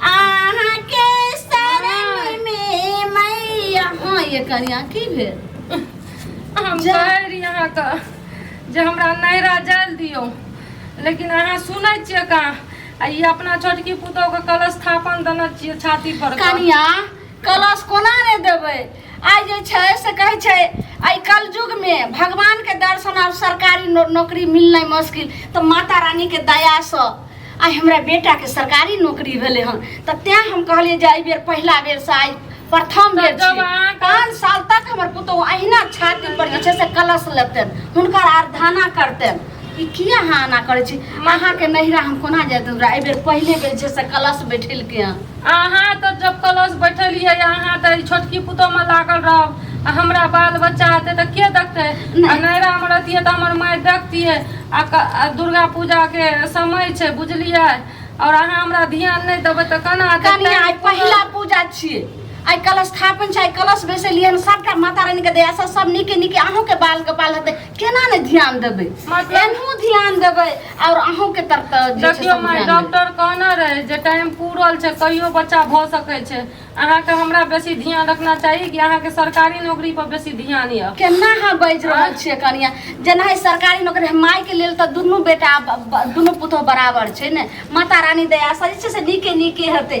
अहाँ के शरण में मैया हाँ ये कनिया की भेल हम जा। कहै रही अहाँके जे हमरा नैरा जाय लए दियौ लेकिन अहाँ सुनै छियै का आ ई अपना छोटकी पुतोहके कलश स्थापन देने छियै छाती पर कनिया कलश कोना ने देबै आइ जे छै से कहै छै एहि कलयुगमे भगवानके दर्शन आब सरकारी नो, नौकरी मिलनाइ मुश्किल तऽ माता रानीके दयासँ आइ हमरा बेटाके सरकारी नौकरी भेलै हन तऽ तैँ हम कहलियै जे एहि बेर पहिला बेरसँ आइ प्रथम बेर तब छियै। अहाँ कह- पाँच साल तक हमर पुतहु अहिना छाती पर जे छै से कलश लेतन हुनकर आराधना करतन ई किया अहाँ एना करै छी अहाँके नैहरा हम कोना जाइत हमरा एहि बेर पहिले बेर जे छै से कलश बैठेलकै हँ अहाँ तऽ जब कलश बैठलियै अहाँ तऽ छोटकी पुतोमे लागल रहब आ हमरा बाल बच्चा हेतै तऽ के देखतै आ नैरामे रहतियै तऽ हमर माय देखतियै आ क- आ दुर्गा पूजाके समय छै बुझलियै आओर अहाँ हमरा ध्यान नहि देबै तऽ केना हेतै? कनी आइ पहिला पूजा छियै आइ कलश स्थापन छै आइ कलश बैसेलियै हन सबटा माता रानी के दया से सब नीके नीके अहूँ के बाल के बाल हेतै केना ने ध्यान देबै मतलब- एनहु ध्यान देबै और अहूँ के तरफ तऽ जे छै देखियौ सब माय ध्यान देबै। डॉक्टर कहने रहे जे टाइम पूरल छै कहियो बच्चा भऽ सकै छै अहाँके हमरा बेसी ध्यान रखना चाही कि अहाँके सरकारी नौकरी पर बेसी ध्यान यऽ केना अहाँ बाजि रहल छियै कनिया जेना है सरकारी नौकरी है, माय के लेल तऽ दुनू बेटा ब- ब- दुनू पुतोह बराबर छै ने माता रानी दया से जे छै से नीके नीके हेतै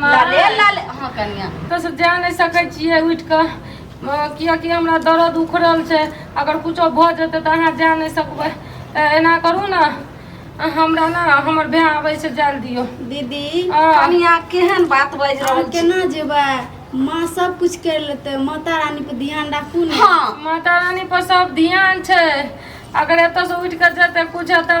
लाले लाले हाँ कनिया तो से जा नहीं सकै छी है उठ के किया कि हमरा दर्द उखड़ल छै अगर कुछो भ जेतै त अहाँ जा नहीं सकबै ए, एना करू ना हमरा ना हमर भाय आबै छै जाल दियो दीदी हाँ। कनिया केहन बात बाजि हम रहल छी केना जेबै माँ सब कुछ कर लेते माता रानी पे ध्यान राखू ने हाँ माता रानी पर सब ध्यान छै अगर एतऽ से उठ के जेतै कुछ हेतै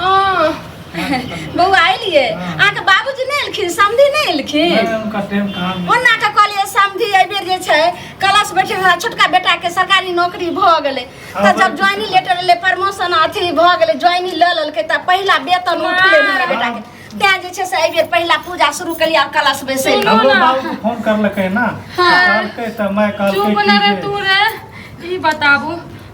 हाँ, बौआ अलिए अहाँके बाबूजी नहि एलखिन समधी नहि एलखिन नहीं, उनका टाइम कहाँ मिला। ओना के कहलिए समधी एहिबेर जे छै क्लास बैठे हमरा छोटका बेटा के सरकारी नौकरी भऽ गेलै तऽ जब ज्वाइनिंग लेटर एलै प्रमोशन अथी भऽ गेलै ज्वाइनिंग लऽ लेलकै तऽ पहिला वेतन उठलै हमरा बेटा के तैं जे छै से एहिबेर पहिला पूजा शुरू केलिए आब क्लास बैसै लए हमरो बाबू को फोन करलकै ना कहलकै तऽ मैं कहलकै चुप कि ना रे जे- तू रे ई बताबू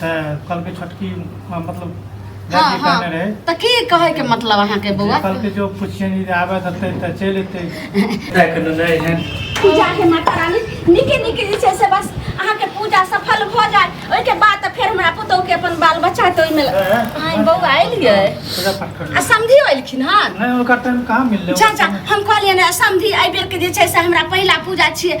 तऽ कहलकै छोटकी अ, मतलब हाँ, दादी हाँ। कहने रहै तऽ की कहै के मतलब अहाँ के बौआ कहलकै जो पूछिए नहीं आबे देतै तऽ चलि एतै देखि देने रहै पूजा हे माता रानी नीके नीके जे छै से बस अहाँके पूजा सफल भऽ जाय ओहिके बाद तऽ फेर हमरा पुतहु के अपन बाल बच्चा हेतै ओहिमे आइ बौआ एलियै पूजा पाठ कर आ समधियो एलखिन हन नहीं ओकर टाइम कहाँ मिललै जा जा हम कहलियै ने समधी एहि बेर के जे छै से हमरा पहिला पूजा छियै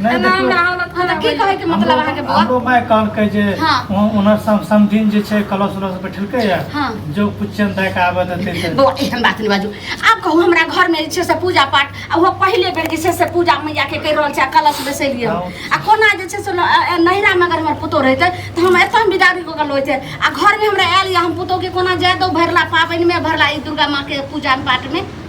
नहि एना देखियौ हमरा हालत हँ तऽ खराब की होइए। कहैके मतलब हमरो अहाँके बौआ हमरो माय कहलकै जे हँ। उन- उनर सम- समधिन जे छै कलश उलश बैठेलकै या हँ। जो पुछन दए के आबे देतै तऽ बौआ एहन बात नहि बाजू आब कहू हमरा घरमे जे छै से पूजा पाठ आ ओहो पहिले बेर जे छै से पूजा मैयाके करि रहल छै आ कलश बैसेलियै हँ। आ कोना जे छै से न- अ- अ- नैहरामे अगर हमर पुतोह रहितै तऽ हम एतऽ हम बिदारी कऽ गेल होइतै आ घरमे हमरा आयल यऽ हम पुतोहके कोना जाय दो भरला पाबनिमे भरला ई दुर्गा माँके पूजा पाठमे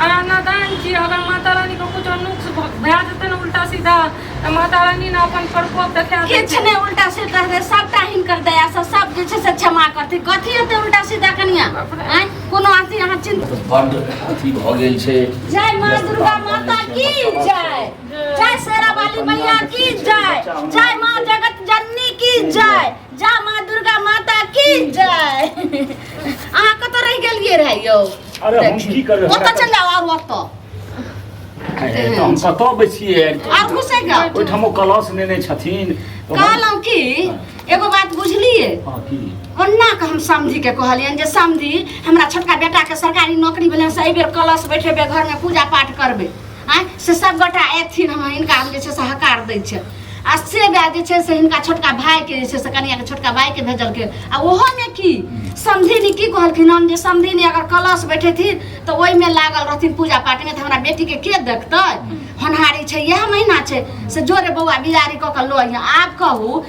और अन्नदान की अगर माता रानी को कुछ नुक्स भए जेतै ने उल्टा सीधा तऽ माता रानी ने अपन प्रकोप देखा दै किछु छै। नहि उल्टा सीधा रहतै सबटा हिनकर दया से सब जे छै से क्षमा करतै कथी हेतै उल्टा सीधा कनिया आँय कोनो अथी अहाँ चिन्ता तऽ बड्ड अथी भऽ गेल छै जय माँ दुर्गा माता की जय जय शेरा वाली मैया की जय जय माँ जगत जननी की जय जय माँ दुर्गा माता की जय अहाँ कतऽ रहि गेलियै रहे यौ अरे हम की करबै ओतऽ चल जाओ आर ओतऽ अरे तऽ हम कतऽ बैसिए आर घुसे गया ओहिठामो कलश नेने छथिन तऽ हम- कहलहुँ कि एगो बात बुझलियै हँ, की ओना के हम समझी के कहलियनि जे समझी हमरा छोटका बेटा के सरकारी नौकरी भेलै से एहिबेर कलश बैठेबै घर में पूजा पाठ करबै आँय से सभगोटा अयथिन हँ हिनका हम जे छै से हकार दै छै आ से वएह जे छै से हिनका छोटका भायके जे छै से कनियाके छोटका भायके भेजलखिन आ ओहोमे की समधिनी की कहलखिन हम जे समधिनी अगर कलश बैठेथिन तऽ ओहिमे लागल रहथिन पूजा पाठमे तऽ हमरा बेटीके के देखतै होनहारी छै इएह महीना छै से जोरे बौआ बियारी कऽ कऽ लऽ अइहँ। आब कहू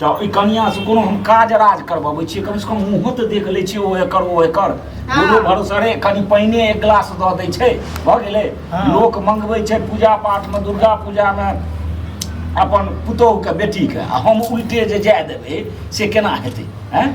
तऽ ओहि कनियासँ कोनो हम काज राज करबबै छियै कमसँ कम मुँहो तऽ देख लै छियै ओ एकर ओ एकर हँ। कोनो भरोसा रे कनि पानिए एक गिलास दऽ दै छै भऽ गेलै हँ। लोक मंगबै छै पूजा पाठमे दुर्गा पूजामे अपन पुतोहुके बेटीके आ हम उल्टे जे जाय देबै से केना हेतै आँय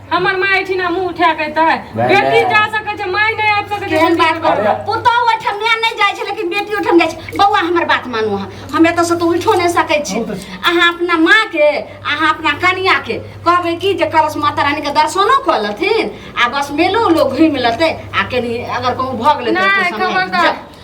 हमर माँ एठिना मुँह उठा के एतै भाय, बेटी भाय। जा सकै छै माय नहि आबि सकै छै केहन बात कर अरे। पुतहु ओहिठाम नहि नहि जाइ छै लेकिन बेटी ओहिठाम जाइ छै बौआ हमर बात मानू अहाँ हम एतऽसँ तऽ उठो नहि सकै छी अहाँ अपना माँके अहाँ अपना कनियाके कहबै कि जे करस माता रानीके दर्शनो कऽ लेथिन आ बस मेलो उलो घुमि लेतै आ कनि अगर कहूँ भऽ गेलै तऽ नहि, ओतऽ समय- खबरदार। जा।